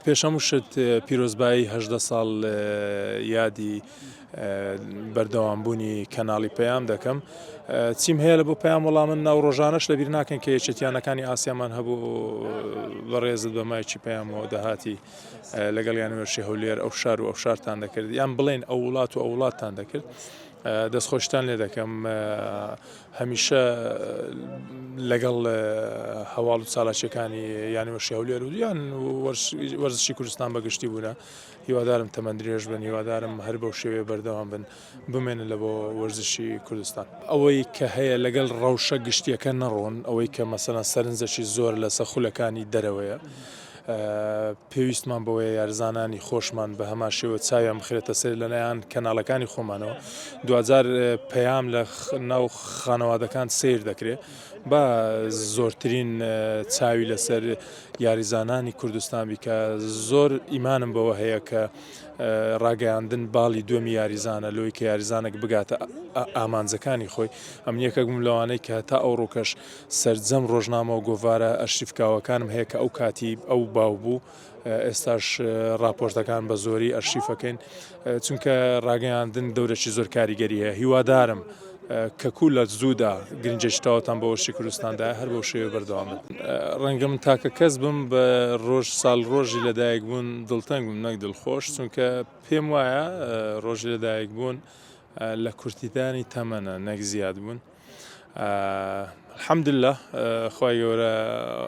پێش هەموو شت پیرۆزبایی هەژدە ساڵ لە یادی بەردەوام بوونی کەناڵی پەیام دەکەم چیم هەیە لە بۆ پەیام وەڵام من ناو ڕۆژانەش لەبیر ناکەن کە یەکێتیانەکانی ئاسیامان هەبوو بەڕێزت بە مایکی پەیامەوە دەهاتی لەگەڵ یان وێرشی هەولێر ئەو شار و ئەو شارتان دەکرد یان بڵێن ئەو وڵات و ئەو وڵاتتان دەکرد دەستخۆشتان لێ دەکەم هەمیشە لەگەڵ هەواڵ و چالاکیەکانی یانوەشی هەولێر و یان وەرزشی کوردستان بەگشتی بوونە هیوادارم تەمەند درێژ بن هیوادارم هەر بەو شێوێ بەردەوام بن بمێنن لە بۆ وەرزشی کوردستان ئەوەی کە هەیە لەگەڵ ڕەوشە گشتیەکە نەڕۆن ئەوەی کە مەسەلەن سەرنجەکی زۆر لەسە خولەکانی دەرەوەیە پێویستمان بەوەیە یارزانانی خۆشمان بە هەمان شێوە چاویان بخرێتە سەر لەلایەن کەناڵەکانی خۆمانەوە دوجار پەیام لە ناو خانەوادەکان سیر دەکرێت بە زۆرترین چاوی لەسەر یاریزانانی کوردستان بیکە زۆر ئیمانم بەوە هەیە کە ڕاگەیاندن باڵی دومی یاریزانە لۆی کە یاریزانێک بگاتە ئامانجەکانی خۆی ئەمنیەکەک بووم لەوانەی کە تا ئەو ڕووکەش سەرجەم ڕۆژنامە و گۆڤارە ئەرشیفکاوەکانم هەیە کە ئەو کاتی ئەو باو بوو ئێستاش راپۆرتەکان بە زۆری ئەرشیفەکەین چونکە ڕاگەیاندن دەورەی زۆر کاریگەری هەیە هیوادارم کەکو لە زوودا گرنجێشتاوتان بە وەشی کوردستاندا هەر بۆ شێوێ بەردەوام ڕەنگە من تاکە کەس بم بە ڕۆژ ساڵ ڕۆژی لەدایک بوون دڵتەنگ بووم نەک دڵخۆش چونکە پێم وایە ڕۆژی لەدایک بوون لە کورتیدانی تەمەە نەک زیاد بوون. الحمدللە خوای گەورە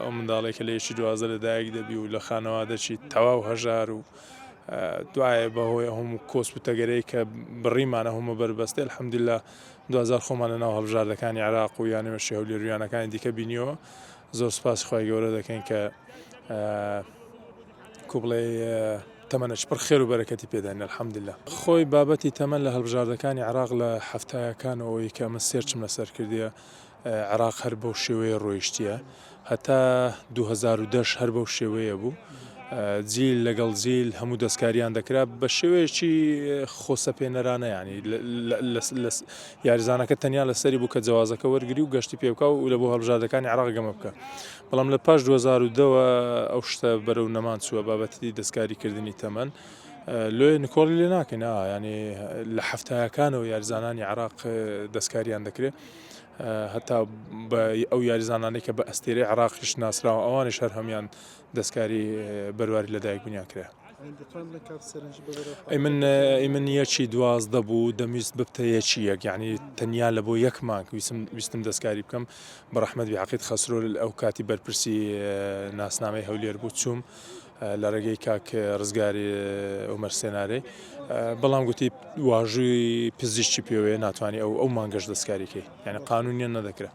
ئەو منداڵێک کە لەیەکی دوازە لە دایک دەبی و لە خانەوە دەچی تەواو هەژار و دوایە بەهۆی هەموو کۆس و تەگەرەی کە بڕیمانە هەمە بەربەستێ الحمدللا دوزار خۆمان لە ناو هەڵبژاردەکانی عراق و یانەوەشی هەولێریانەکانی دیکە بینیەوە زۆر سپاس خخوای گەورە دەکەین کە کو بڵێ تەمەنە چ پڕ خێرو بەرەکەتی پێداین الحمدللە. خۆی بابەتی تەمەن لە هەڵبژاردەکانی عێراق لە حەفتایەکانەوەی کە ئەمن سێرچم لەسەر کردیە عێراق هەر بەو شێوەیە ڕۆیشتیە هەتا دوو هەزار و دە هەر بەو شێوەیە بوو جیل لەگەڵ جیل هەموو دەستکاریان دەکرا بە شێوەیەکی خۆسەپێنەرانە ینی یاریزانەکە تەنیا لەسەری بوو کە جوازەکە وەرگری و گەشتی پێبکە و لە بۆ هەڵبژاردەکانی عێراق گەمە بکە بەڵام لە پاش دوو هەزار و دە وە ئەو شتە بەرەو نەمان چووە بابەتی دەستکاری کردنی تەمەن لۆیێ نکۆڵی لێ ناکەین ئا ینی لە حەفتایەکانەوە یارزانانی عراق دەستکاریان دەکرێت هەتا بە ئەو یاریزانانەی کە بە ئەستێرەی عراقیش ناسراوە ئەوانش هەر هەمان دەستکاری بەرواری لەدایک بنیان کرێ. ئەیمن ئەیمن یەکی دوازدە بوو دەمویست ببتە یەکی یەک یعنی تەنیا لە بۆ یەک مانک ویسم ویستم دەستکاری بکەم بە ڕەحمەت بیعقید خەسرۆ ئەو کاتی بەرپرسی ناسنامەی هەولێر بوو چوم لە ڕێگەی کاک ڕزگاری ئۆمەر سێنارەی بەڵام گوتی واژووی پزیشتی پێوەیە ناتوانانی ئەو ئەو مانگەش دەستکاریکەی یعنی قانونیان نەدەکرێت